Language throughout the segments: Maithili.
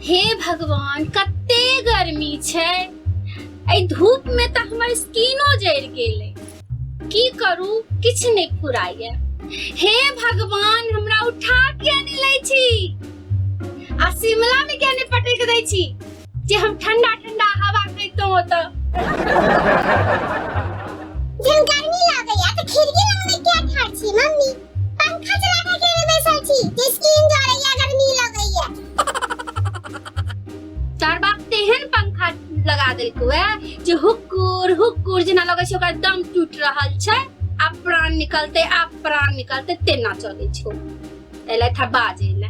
हे भगवान कते गर्मी छै एहि धूप में तऽ हमर स्किनो जरि गेलै की करू किछ नहि फुराइए हे भगवान हमरा उठा किया नहि लै छी आ शिमला में किया नहि पटक दै छी जे हम ठंडा ठंडा हवा खैतौ ओतऽ जब गर्मी लागैया तऽ खिड़की लग में क्या ठाड़ छी मम्मी पंखा चला के के में बैसल छी जे स्किन जरैया गर्मी लगैया तार बाप तेहन पंखा लगा देलकौ ए जे हुकुर हुकुर जेना लगै छै ओकर दम टूट रहल छै आ प्राण निकलते आ प्राण निकलते तेना चलै छौ एलै था बाजे ले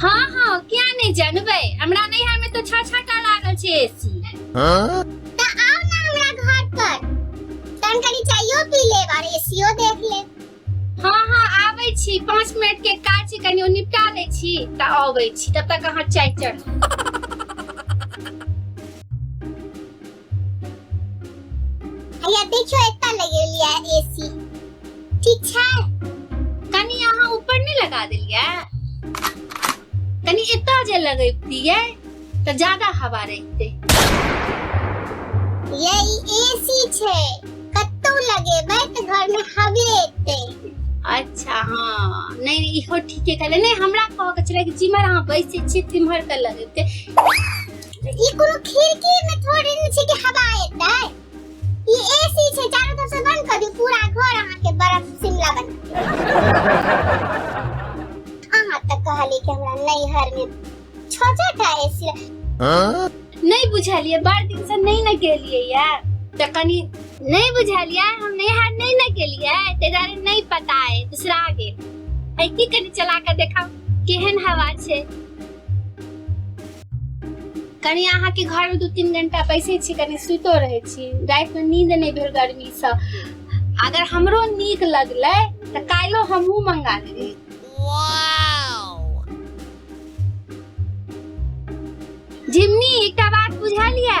हाँ हाँ क्या नहीं जानबे हमरा नैहर में तो छह छह टा लागल छे एसी त आओ ना हमरा घर पर तन कनी चायो पी ले और एसीओ देख ले हाँ हाँ आबै छी पाँच मिनट के काज छी कनी ओ निपटा लै छी त आबै छी तब तक अहाँ चाय चढ़ भैया देखियो एता लगे लिया एसी ठीक छै कनी अहाँ ऊपर नहीं लगा देलिए कनी एता जे लगैबतिए त ज्यादा हवा रहिते ये एसी छै कतौ लगेबै त घर में हवे एते अच्छा हाँ नहीं नहीं इहो ठीके कहले नहीं हमरा कह के छले कि जिमर अहाँ बैसे छी तिमहर त लगेते ई कोनो खिड़की में थोड़ी न छै कि हवा एतै ई एसी छै चारों तरफ से बंद कर दियो पूरा घर अहाँ के बर्फ शिमला बन अहाँ त कहली कि हमरा नैहर में छोटा का एसी नहीं बुझलिए बड़ दिन से नहीं न गेलिए या त कनी नहीं बुझलिए हम नैहर नहीं न गेलिए ते जाने नहीं पता है दूसरा आगे ऐ की कनी चला के देखा केहन हवा छै कनि अहाँके घरमे दू तीन घंटा बैसै छी कनि सुतो रहै छी रातिमे नींद नहि भेल गर्मीसँ अगर हमरो नीक लगलै तऽ काल्हिओ हमहूँ मंगा लेबै जिमनी एकटा बात बुझलियै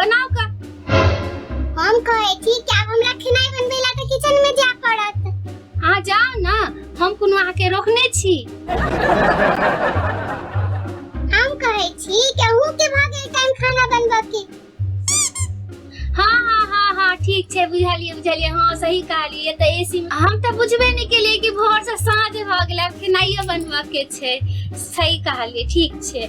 बनाओ का हम कहे छी कि आब हमरा खेनाई बनबै ला तऽ किचन में जाय पड़त अहाँ जाओ ना हम कोनो अहाँके रोकने छी हम कहे छी कि अहूँ के भऽ गेल टाइम खाना बनबऽ के हाँ हाँ हाँ हाँ ठीक छै बुझलियै बुझलियै हाँ सही कहलियै तऽ एसी मे हम तऽ बुझबे नहि केलियै कि भोर से साँझ भऽ गेलै आब खेनाइयो बनबऽ के छै सही कहलियै ठीक छै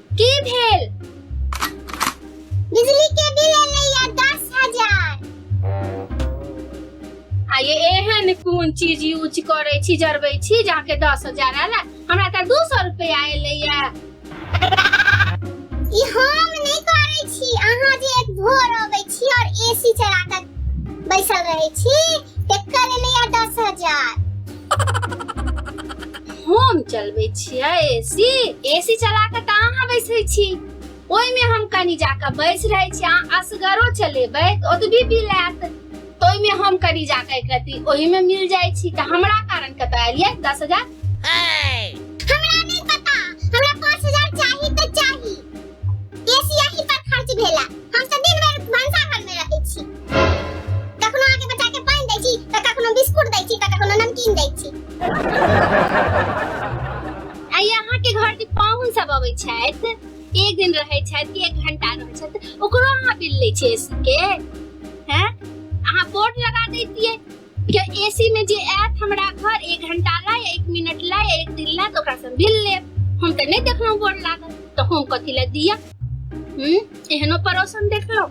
की भेल बिजली के बिल एलै या दस हजार आ ये एहन कोन चीज यूज करै छी जरबै छी जाके दस हजार आयल हमरा तऽ दू सौ रुपया एलैया ई हम नहि करै छी अहाँ जे एक भोर अबै छी और एसी चला कऽ बैसल रहै छी एकर एलै या दस हजार हम चलबै छियै एसी एसी चला कऽ तऽ अहाँ बैसै छी ओहिमे हम कनि जाकऽ बैस रहै छी अहाँ असगरो चलेबै तऽ ओतबी बिल आयत तऽ ओहिमे हम कनि जाकऽ एक रत्ती ओहिमे मिल जाइ छी तऽ हमरा कारण कतऽ एलियै दस हजार हमरा ये सिया ही पर खर्च भेला हम सब दिन भर भंसा घर में रहै छी कखनो आके बच्चा के पानी दै छी त कखनो बिस्कुट दै छी त कखनो नमकीन दै छी आ यहाँ के घर के पाहुन सब अबै छथि एक दिन रहै छथि कि एक घंटा रहै छथि ओकरो अहाँ बिल लै छियै एसी के हैं अहाँ बोर्ड लगा दैतियै के एसी में जे आयत हमरा घर एक घंटा ला या एक मिनट ला या एक दिन ला तो ओकरा से मिल ले हम तो नहीं देखलो गोड़ लागल तो हम कथी ला दिया हम्म एहनो पड़ोसन देखलो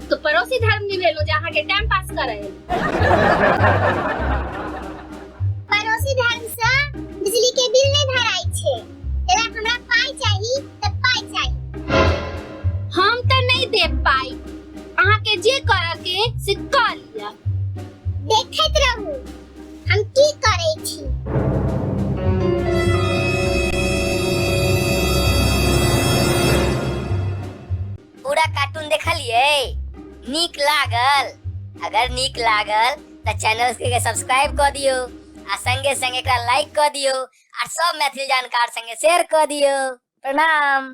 तो पड़ोसी धर्म निभेलो जे अहाँ के टाइम पास करे पड़ोसी धर्म से बिजली के बिल नहीं भराई छे अगर हमरा पाई चाहिए तो पाई चाहिए हम तो नहीं दे पाई अहाँ के जे कर के से कर लिया देखत रहू हम की करे छी पूरा कार्टून देखलिए नीक लागल अगर नीक लागल तो चैनल के सब्सक्राइब कर दियो आ संगे संगे एकरा लाइक कर दियो आर सब मैथिली जानकार संगे शेयर क दियो प्रणाम